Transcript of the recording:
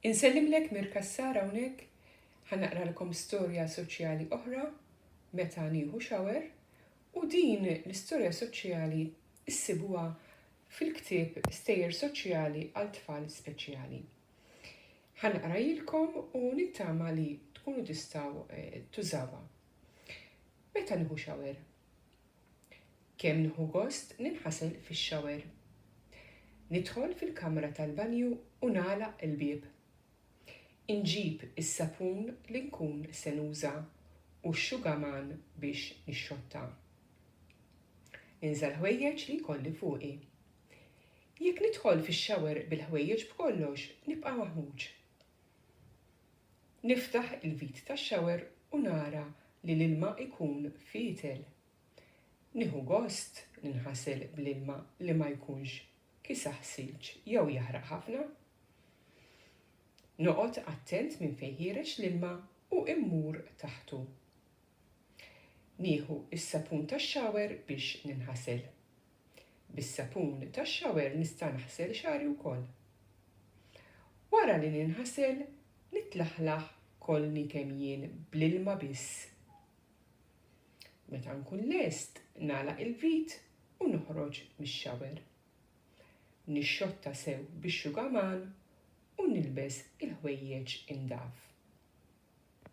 Insellimlek Mir Cassar hawnhekk, ħa naqralkom storja soċjali oħra meta nieħu shower u din l-istorja soċjali ssibuha fil-ktieb Stejjer Soċjali għal Tfal Speċjali. Ħa naqrajilkom u nittama li tkunu tistgħu eh, tużawha. Meta nieħu shower? Kemm nieħu gost ninħasel fix-shower. Nidħol fil-kamra tal-banju u nagħlaq il-bieb. Inġib is-sapun li nkun se nuża u x-xugaman biex nixxotta. Ninża l-ħwejjeġ li jkolli fuqi. Jekk nidħol fix-shower bil-ħwejjeġ b'kollox nibqa' maħmuġ. Niftaħ il-vit tax-shower u nara li l-ilma jkun fietel. Nieħu gost ninħasel bl-ilma li ma jkunx kisaħ silġ jew jaħraq ħafna. Noqgħod attent minn fejn ħiereġ l-ilma u mmur taħtu. Nieħu s-sapun tax-shower biex ninħasel. Bis-sapun tax-shower nista' naħsel xagħri wkoll. Wara li ninħasel, nitlaħlaħ kollni kemm jien bl-ilma biss. Meta nkun lest, nagħlaq il-vit u noħroġ mix-shower. Nixxotta sew bix-xugaman u nilbes il-ħwejjeġ indaf.